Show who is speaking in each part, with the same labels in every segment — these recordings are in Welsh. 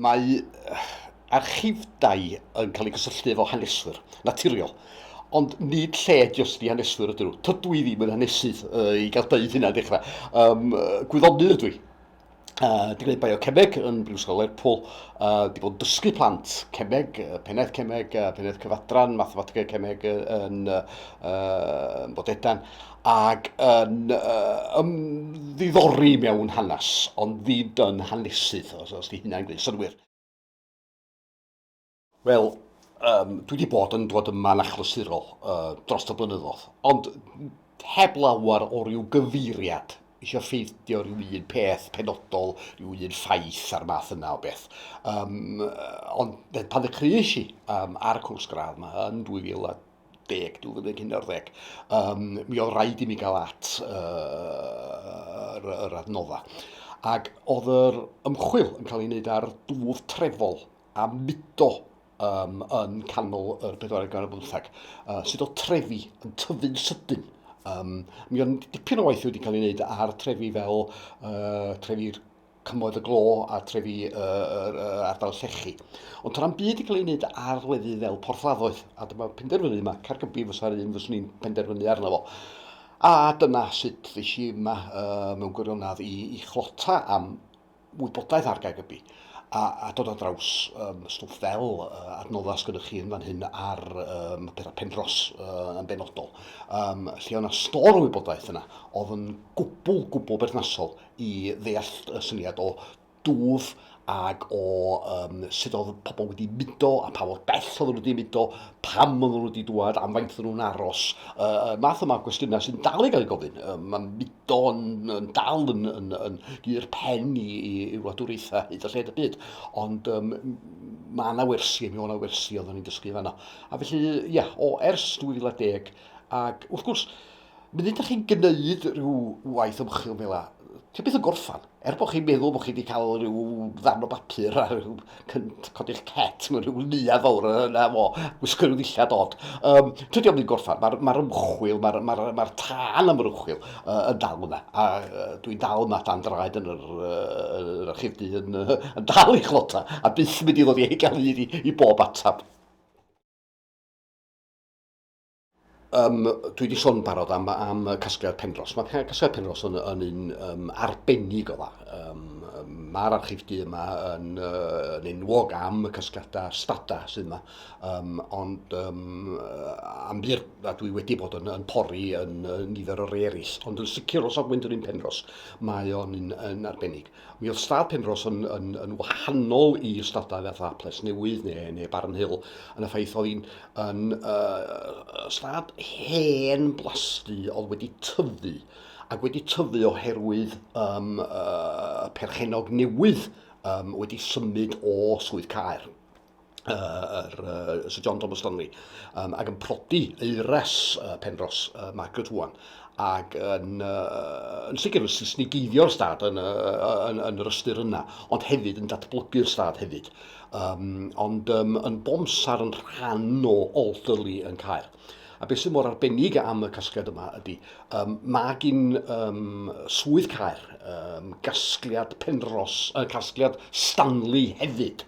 Speaker 1: Mae archifdai yn cael eu cysylltu efo haneswyr, naturiol. Ond nid lle jyst i haneswyr ydyn nhw. Tydw i ddim yn hanesydd uh, i gael dweud hynna dechrau. Um, gwyddonydd ydw i. Uh, di gwneud biocemeg yn Brifysgol Lerpwl, uh, di bod yn dysgu plant cemeg, uh, pennaeth cemeg, uh, pennaeth cyfadran, mathemategau cemeg uh, yn uh, Bodedan, ac yn uh, ymddiddori mewn hanes, ond ddid yn hanesydd, os, os di hynna'n gwneud synwyr. Wel, um, dwi wedi bod yn dod yma'n achlysurol uh, dros y blynyddoedd, ond heb lawer o ryw gyfeiriad eisiau ffeidio rhyw un peth penodol, rhyw un ffaith a'r math yna o beth. Um, ond pan ddechreuais i um, ar y cwrs gradd yma yn 2000 2010, 2011, um, mi oedd rhaid i mi gael at uh, yr, yr adnodda. Ac oedd yr ymchwil yn cael ei wneud ar dwf trefol a mudo um, yn canol yr bedwarau gan y bymthag, uh, sydd o trefi yn tyfu'n sydyn. Um, mi oedd dipyn o waith wedi cael ei wneud ar trefi fel uh, trefi'r Cymoedd y Glo a trefi yr ardal llechi. Ond to'n byd i gael ei wneud ar lefydd fel porthladdoedd, a dyma penderfynu yma, Caergybi fysa'r un fyswn i'n penderfynu arno fo. A dyna sut ddys i yma mewn gwirionedd i, i chlota am wybodaeth ar Gaergybi a, a dod ar draws um, stwff fel uh, adnoddau sgynnych chi yn fan hyn ar um, pethau pendros uh, yn benodol, um, lle o'na stor o wybodaeth yna oedd yn gwbl, gwbl berthnasol i ddeall y syniad o dwf ac o um, sut oedd pobl wedi mudo a pa fod bell oedd nhw wedi mudo, pam oedd nhw wedi dwad, am faint oedd nhw'n aros. Uh, math yma o gwestiynau sy'n dal i gael ei gofyn. Uh, mae mudo yn, yn dal yn, yn, yn, yn pen i, i, i wladwriaethau hyd a lled y byd. Ond um, mae yna wersi, mi o'na wersi oedd ni'n dysgu fanna. A felly, ia, o ers 2010, ac wrth gwrs, Munud da chi'n gwneud rhyw waith ymchwil fel yna, ti'n beth yn gorffan. Er bod chi'n meddwl bod chi wedi cael rhyw ddarn o bapur a rhyw cynt codi'ch cet mewn rhyw lia fawr yna fo, gwisgo rhyw ddillad od. Um, Tydio mynd gorffan, mae'r ma ymchwil, mae'r ma ma ma tân am yr ymchwil uh, yn dal yna. A uh, dwi'n dal yma dan draed yn yr, uh, yr archifdy yn, uh, yn dal i chlota a byth mynd i ddod i gael hyd i, i bob atab. Um, dwi wedi sôn barod am, am Casgliad Penros. Mae Casgliad Penros yn, yn un um, arbennig o dda. Um, Mae'r archif du yma yn, uh, yn enwog am y casgliadau stada sydd yma. Um, ond um, am bur, a dwi wedi bod yn, yn pori yn, yn nifer o rei eraill. Ond yn sicr os ofyn dyn ni'n Penros, mae o'n un, un arbennig. Mi oedd stad Penrhos yn, yn, yn wahanol i stadau fatha Plesnewydd neu, neu Barnhill yn y ffaith oedd hi'n yn, uh, stad hen blasty oedd wedi tyfu ac wedi tyfu oherwydd um, uh, perchenog newydd um, wedi symud o Swydd Caer. yr, uh, Sir John Thomas Stanley, um, ac yn prodi eires uh, Penros uh, Margaret Wan, ac yn, uh, yn sicr yn sisnigeiddio'r stad yn, uh, yn, yn yr ystyr yna, ond hefyd yn datblygu'r stad hefyd. Um, ond um, yn bomsar yn rhan o Alderley yn cael. A beth sy'n mor arbennig am y casgliad yma ydy, um, mae gyn um, swydd cair um, gasgliad penros, uh, casgliad Stanley hefyd.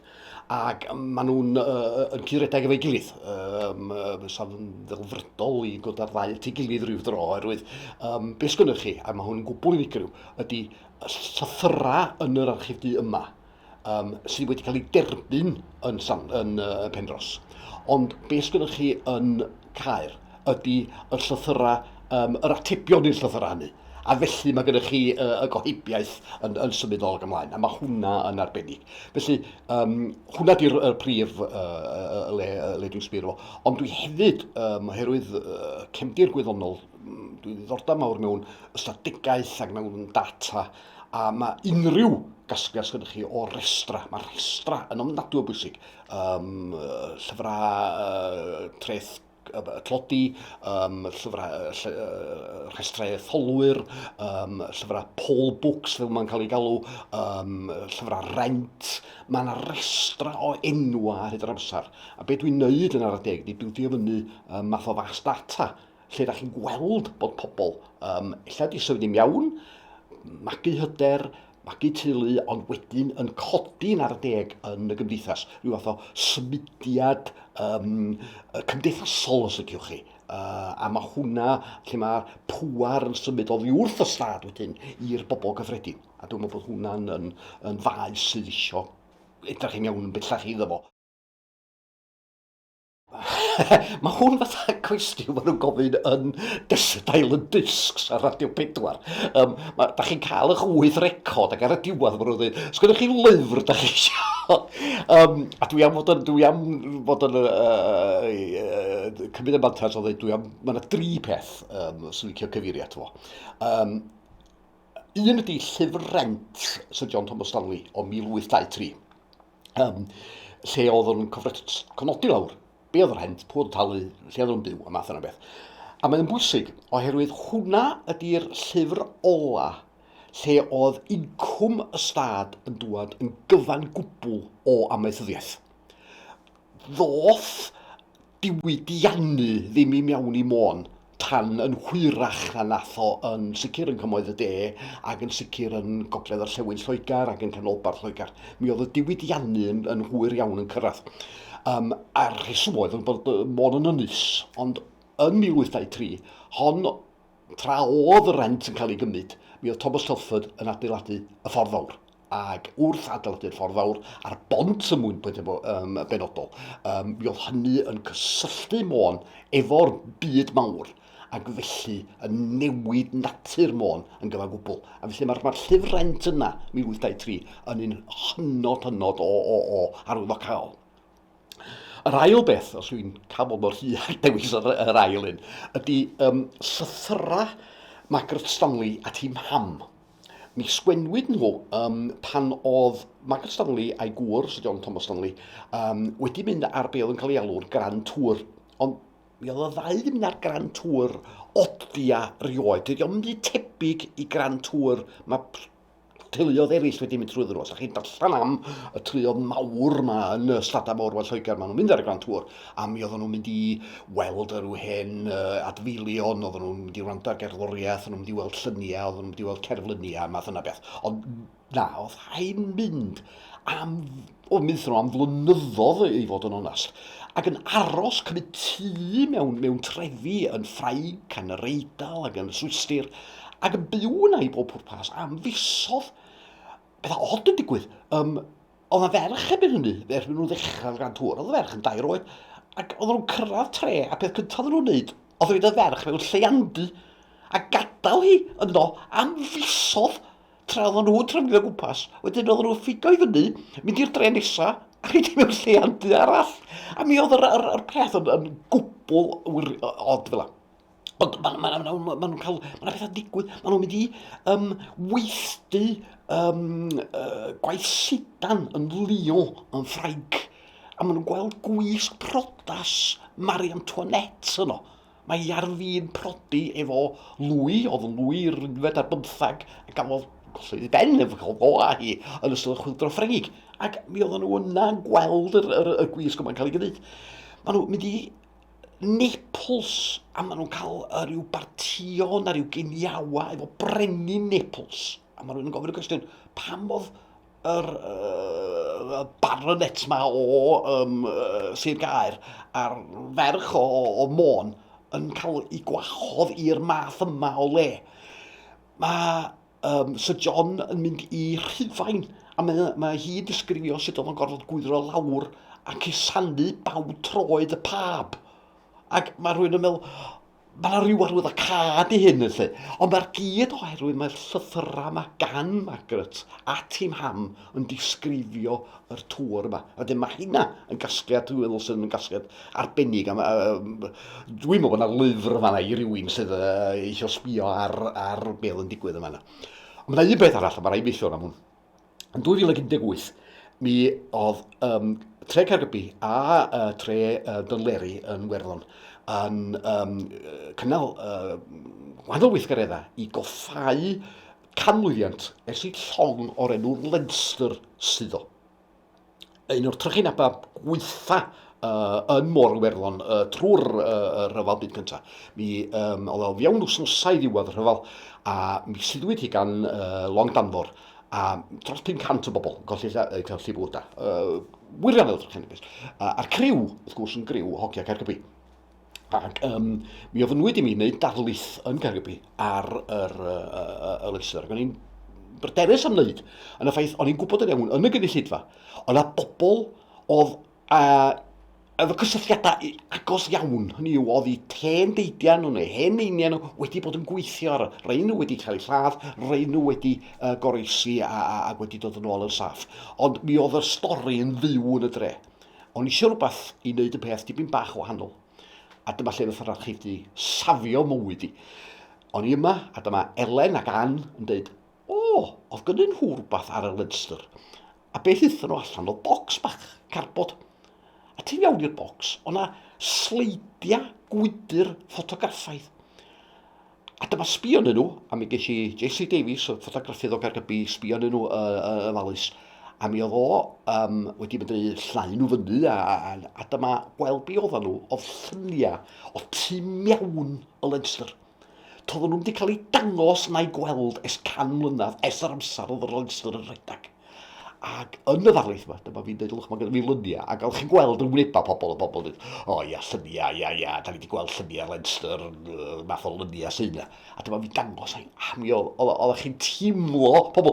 Speaker 1: ac maen nhw'n yn cyd-redeg efo'i gilydd. Um, Sa'n ddelfrydol i ddod ar ddau at ei gilydd rhyw dro, oherwydd um, beth sgynnych chi, a mae hwn yn gwbl unigryw, ydy llythyrau yn yr archif du yma, um, sydd wedi cael ei derbyn yn, yn, yn uh, Penros. Ond beth sgynnych chi yn Caer, ydy y llythyrau, yym, yr atebion i'r llythyrau hynny. A felly mae gennych chi y, y gohebiaeth yn, yn symud ôl ac ymlaen, a mae hwnna yn arbennig. Felly, um, hwnna di'r er prif uh, le, le dwi'n sbio fo. Ond dwi hefyd, um, oherwydd uh, cefndir gwyddonol, mm, dwi'n ddiddordeb mawr mewn ystadegaeth ac mewn data, a mae unrhyw gasgliad sydd gennych chi o restra, mae restra yn ofnadwy o bwysig um, llyfrau treth tlodi, um, llyfrau rhestrau etholwyr, um, llyfrau poll books fel mae'n cael ei galw, um, llyfrau rent. Mae yna restra o enwa ar hyd yr amser. A beth dwi'n neud yn ar y deg, di dwi'n ffio fyny um, math o fas data lle da chi'n gweld bod pobl, um, illa di symud i'n iawn, magu hyder, magu teulu, ond wedyn yn codi yn ar y deg yn y gymdeithas, rhyw fath o symudiad um, cymdeithasol os ydych chi. Uh, a mae hwnna lle mae pŵar yn symud o ddiwrth y stad wedyn i'r bobl gyffredin. A dwi'n meddwl bod hwnna'n yn, yn faes sydd eisiau edrych yn iawn yn bellach iddo fo. Mae hwn fatha cwestiwn maen nhw'n gofyn yn Desert Island Discs ar Radio 4. Um, ma, da chi'n cael eich wyth record ac ar y diwedd maen nhw'n dweud, os gyda chi lyfr da chi eisiau? um, a dwi am fod yn, dwi am fod yn uh, uh, cymryd y mantas o ddweud, dwi am, mae yna dri peth um, sy'n licio cyfeirio ato fo. Um, un ydy llyfr rent Sir John Thomas Stanley o 1823. um, lle oedd yn cofnodi lawr, be oedd yr hent, pwy oedd talu, lle oedd yn byw, a math yna beth. A mae'n bwysig, oherwydd hwnna ydy'r llyfr ola lle oedd incwm y stad yn dŵad yn gyfan gwbl o amaethyddiaeth. Ddoth diwydiannu ddim i mewn i Môn tan yn hwyrach na nath o yn sicr yn Cymoedd y De ac yn sicr yn Gogledd Orllewin Lloegr ac yn Canolbarth Lloegr. Mi oedd y diwydiannu yn, yn hwyr iawn yn cyrraedd. Um, a'r rheswm oedd yn bod Môn yn ynys, ond yn 1823, hon tra oedd y rent yn cael ei gymryd, mi oedd Thomas Telford yn adeiladu y Ffordd Fawr. ac wrth adeiladu'r ffordd fawr a'r bont ym mwyn pwyntiau um, benodol, um, mi oedd hynny yn cysylltu Môn efo'r byd mawr, ac felly yn newid natur Môn yn gyfan gwbl. A felly mae'r ma llyfr rent yna, 1823, yn un hynod hynod o, o, o arwyddocaol. Yr ail beth, os yw'n cael bod mor hir ac dewis yr, yr ail un, ydy um, llythyrau Margaret Stanley at hi mam. Mi sgwennwyd nhw yym pan oedd Margaret Stanley a'i gŵr, Sir John Thomas Stanley, um, wedi mynd ar be oedd yn cael ei alw'r Grand Tour. Ond mi oedd y ddau wedi mynd ar Grand Tour odia rioed. Dydy o'n mynd tebyg i Grand Tour mae teuluodd eraill wedi mynd trwy ddyn nhw. Os ydych chi'n darllen am y teuluodd mawr yma yn y Stadau Mawr fel Lloegr, maen nhw'n mynd ar y Grand Tour. a mi oedden nhw'n mynd i weld yr yw hen uh, adfeilion, oedden nhw'n mynd i wrando ar gerddoriaeth, oedden nhw'n mynd i weld lluniau, oedden nhw'n mynd i weld cerfluniau, math yna beth. Ond na, oedd hain mynd am, oedd mynd nhw am flynyddoedd i fod yn onast, ac yn aros cymryd tu mewn, mewn trefi yn Ffrainc, yn yr Eidal ac yn Swistir, ac yn byw yna i bob pwrpas am fisodd. Beth od yn digwydd, um, Oedd na ferch erbyn hynny, ferch mynd nhw'n ddechrau gan tŵr, oedd y ferch yn dair oed, ac oedd nhw'n cyrraedd tre, a peth cyntaf oedd nhw'n wneud, oedd rhaid y ferch mewn lleiandy, a gadael hi yno am fisodd tra oedd nhw'n trefnio gwmpas. Wedyn oedd nhw'n ffigo i fyny, mynd i'r dre nesaf, a rhaid i mewn lleiandy arall. A mi oedd yr, yr, yr peth yn, yn gwbl odd fel Ond maen ma' 'na ma' 'na ma' nhw'n cael... ma' 'na pethau'n digwydd, maen nhw'n mynd i yym weithdy yym yy gwaith sidan yn Lyon yn Ffrainc a maen nhw'n gweld gwisg priodas Marie Antoinette yno. Mae hi ar fin prodi efo Louis, oedd yn Louis yr unfed ar bymtheg, a gafodd golli ei ben efo cael go a hi yn ystod y chwyldro Ffrengig. Ac mi oedden nhw yna yn gweld yr, yr, y gwisg yma'n cael ei gwneud. Maen nhw'n mynd i Naples a maen nhw'n cael uh, rhyw bartio na rhyw geniawa efo brenin Naples. A mae rhywun yn gofyn y cwestiwn, pam oedd yr uh, baronet ma o um, uh, Sir Gaer a'r ferch o, o, o Môn yn cael ei gwahodd i'r math yma o le? Mae um, Sir John yn mynd i Rhufain, a mae, mae hi'n disgrifio sut oedd o'n gorfod gwydro lawr a cusanu baw troed y pab. Ac mae rhywun yn meddwl, mae yna rhyw arwydd o cad i hyn, felly. Ond mae'r gyd oherwydd mae'r llythyrau yma gan Margaret a Tim Ham yn disgrifio yr tŵr yma. A dyma hynna yn gasgliad, dwi'n meddwl sydd yn gasgliad arbennig. A, a, dwi'n meddwl bod yna lyfr yma i rywun sydd uh, eisiau sbio ar, ar beth yn digwydd yma. Ond mae yna un beth arall, a mae rhaid mi sôn am hwn. Yn 2018, mi oedd um, tre Caergybi a uh, tre uh, Dynleri yn Werddon yn um, cynnal uh, wahanol weithgareddau i goffau canmlwyddiant ers i llong o'r enw Leinster suddo. Un o'r trychinebau gweitha uh, yn Môr Iwerddon uh, trwy'r uh, rhyfel byd cyntaf. Mi um, oedd o fiewn wsnosau ddiwedd y rhyfel a mi siddwyd hi gan uh, long danfor a dros 500 o bobl golli eu gallu bwyda. Uh, wirioneddol trychinebus. Uh, a'r criw, wrth gwrs, yn griw hogia Caergybi. Ac um, mi ofynwyd i mi wneud darlith yn Gaergybi ar yr, uh, uh, y lyster. Ac o'n i'n bryderus am wneud. Yn y ffaith, o'n i'n gwybod yn iawn yn y gynulleidfa, ond a bobl oedd a, efo cysylltiadau agos iawn, hynny yw, oedd i ten deidiau nhw neu hen einiau nhw wedi bod yn gweithio ar y rei nhw wedi cael eu lladd, rei nhw wedi uh, goroesi a, a, a wedi dod yn ôl yn saff. Ond mi oedd y stori yn fyw yn y dre. O'n i isio rhywbeth i wneud y peth dipyn bach o wahanol. A dyma lle nath yr archebu safio mywyd i. O'n i yma, a dyma Elen ac Ann yn dweud, o, oedd gynnyn nhw rhywbeth ar y Leinster. A beth ithon nhw allan oedd bocs bach, carbod. A ti'n iawn i'r bocs, o'na sleidiau gwydr ffotograffaidd. A dyma sbio yn nhw, a mi ges i JC Davies, y ffotograffydd o Gaergybi, sbio yn nhw uh, uh, yn falus. A mi oedd o um, wedi mynd i llnau nhw fyny, a, a, a dyma gweld be oedden nhw, oedd lluniau o tu mewn y Leinster. Toedden nhw'n wedi cael eu dangos na'i gweld es can mlynedd, es yr amser oedd yr Leinster yn rhedeg. Ac yn y ddarlith yma, dyma fi'n dweud lwch, mae gen i lyniau, ac fel chi'n gweld yn wynebau pobl, y pobl yn dweud, o oh, ia, llyniau, ia, ia, da ni wedi gweld llyniau ar Leinster, math o lyniau sy'n yna. A dyma fi'n dangos ai, a mi oedd chi'n teimlo pobl,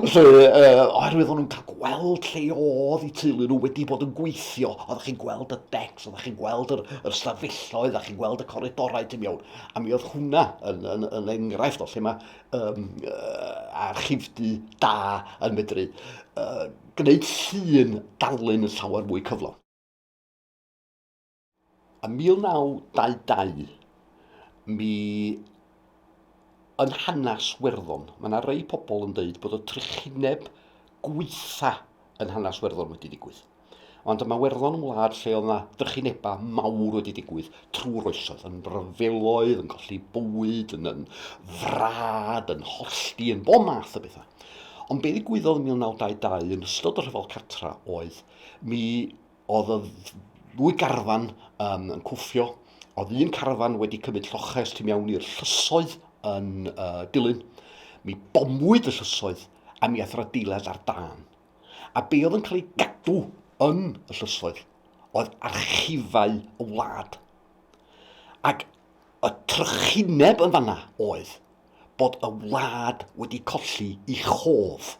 Speaker 1: lle, uh, oherwydd o'n nhw'n cael gweld lle oedd i teulu nhw wedi bod yn gweithio, oedd chi'n gweld y decs, oedd chi'n gweld yr, yr stafelloedd, oedd chi'n gweld y coridorau ti'n iawn. A mi oedd hwnna yn, yn, yn enghraifft o lle mae um, a chifdy da yn medru uh, gwneud llun darlun yn llawer mwy cyflog. A 1922, mi yn hanes Werddon, mae yna rei pobl yn dweud bod y trychineb gweitha yn hanes Werddon wedi digwydd. Ond mae Werddon yn wlad lle oedd yna drychinebau mawr wedi digwydd trwy'r oesoedd, yn ryfeloedd, yn colli bywyd, yn, yn frad, yn hollti, yn bob math o bethau. Ond be ddigwyddodd yn 1922 yn ystod y rhyfel cartra oedd mi oedd y ddwy garfan um, yn cwffio, oedd un carfan wedi cymryd lloches tu mewn i'r llysoedd yn uh, dilyn, mi bomwyd y llysoedd a mi ath yr adeilad ar dan. a be oedd yn cael ei gadw yn y llysoedd oedd archifau y wlad. Ac y trychineb yn fanna oedd bod y wlad wedi colli i chof.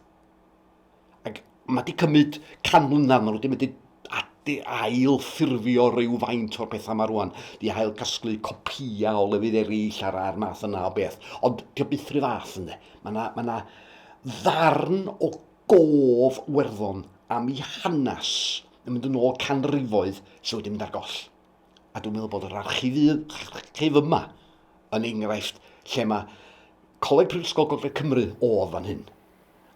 Speaker 1: Ac mae wedi cymryd can mlynedd, mae nhw wedi mynd i ail ffurfio rhyw faint o'r pethau yma rwan, di ail casglu copia o lefydd eraill ar a'r math yna o beth. Ond dio byth rhyw fath ynddo. Mae yna, mae yna ddarn o Gof Werddon am ei hanes yn mynd yn ôl canrifoedd sydd wedi mynd ar goll. A dwi'n meddwl bod yr archifydd yma yn enghraifft lle mae Coleg Prifysgol Gogledd Cymru oedd fan hyn.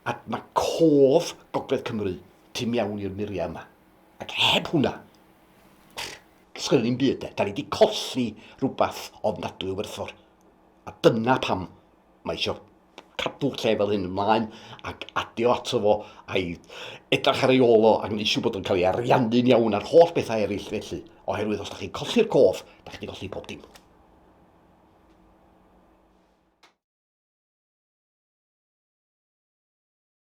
Speaker 1: A mae cof Gogledd Cymru tu mewn i'r muriau yma. Ac heb hwnna, sgynny ni'n byd de. Da ni wedi colli rhywbeth ofnadwy o werthfawr. A dyna pam mae eisiau cadw lle fel hyn ymlaen ac adio ato fo a'i edrych ar ei ôl o ac wneud siŵr bod o'n cael ei ariannu'n iawn a'r holl bethau eraill felly. Oherwydd os da chi'n colli'r cof, da chi'n colli pob dim.